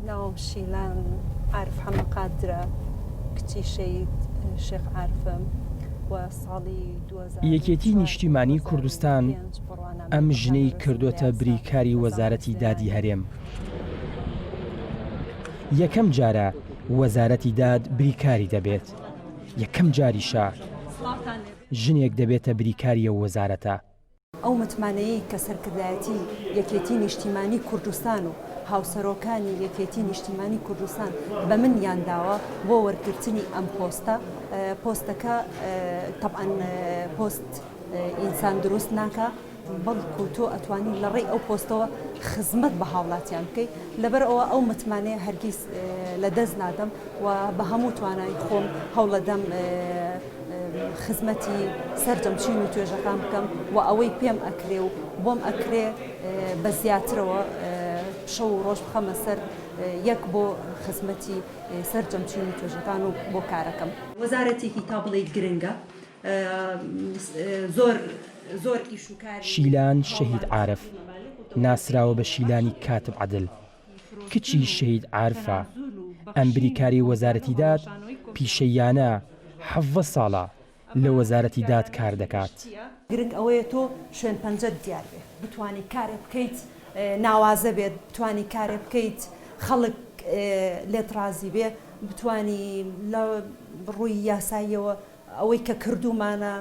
ناوم شیلان عارف حەمە قادرە کچی شەید شێخ عارفم و ساڵی یەکێتی نیشتیمانی کوردستان ئەم ژنەی کردوتە بریکاری وەزارەتی دادی هەرێم یەکەم جارە وەزارەتی داد بریکاری دەبێت یەکەم جاریشە. ژنێک دەبێتە بریکاری ئەو وەزارەتە. ئەو متمانەیەی کە سەرکردایەتی یەکێتی نیشتیمانی کوردستان و هاوسەرۆکانی یەکێتی نیشتیمانی کوردستان بە منیان داوە بۆ وەرگرتنی ئەم پۆستە، پۆستەکە تەبعەن پۆست ئینسان دروست ناکا، بەڵکو تۆ ئەتوانی لە ڕێی ئەو پۆستەوە خزمەت بە هاوڵاتیان بکەی لەبەر ئەوە ئەو متمانەیە هەرگیز لە دەست نادەم و بە هەموو توانای خۆم هەوڵەدەم خزمەتی سەرجەم چین و توێژەکان بکەم و ئەوەی پێم ئەکرێ و بۆم ئەکرێ بە زیاترەوە شەو و ڕۆژ بخەمە سەر یەک بۆ خزمەتی سەرجەم چین و توێژەکان و بۆ کارەکەم. وەزارەتێکی تا بڵێی گرنگە شیلان شەهید عارف، ناسراوە بە شیلانی کاتب عەدل، کچی شەهید عارفە، ئەم بریکارەی وەزارەتی داد پیشەییانە حەڤدە ساڵە لە وەزارەتی داد کار دەکات. گرنگ ئەوەیە تۆ شوێن پەنجەت دیار بێت بتوانی کارێ بکەیت ناوازە بێت بتوانی کارێ بکەیت خەڵک لێت ڕازی بێ بتوانی لە ڕووی یاساییەوە ئەوەی کە کردوومانە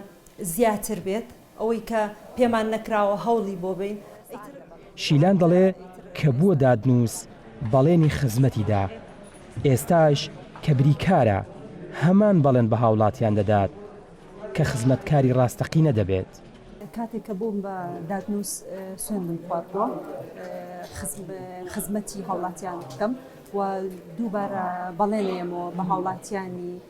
زیاتر بێت، ئەوەی کە پێمان نەکراوە هەوڵی بۆ بەین. شیلان دەڵێ کە بووە دادنووس بەڵێنی خزمەتی دا، ئێستاش کە بریکارە هەمان بەڵێن بە هاوڵاتیان دەدات کە خزمەتکاری ڕاستەقینە دەبێت. کاتێک کە بووم بە دادنووس سوێندم خواردووە خزمەتی هاوڵاتیان بکەم و دووبارە بەڵێنێمەوە بە هاوڵاتیانی.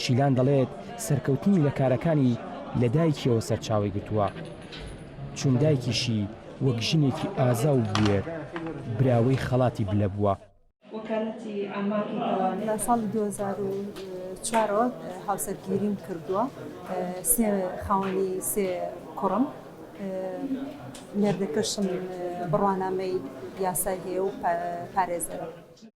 شیلان دەڵێت، سەرکەوتنی لە کارەکانی لە دایکییەوە سەرچاوەی گرتووە، چون دایکیشی وەک ژنێکی ئازا و بوێر، براوەی خەڵاتی بلە بووە. لە ساڵی دوو هەزار و چوار ەوە هاوسەرگیریم کردووە، سێ خاوەنی سێ کوڕم، مێردەکەشم بڕوانامەی یاسای هەیە و پارێزەرە.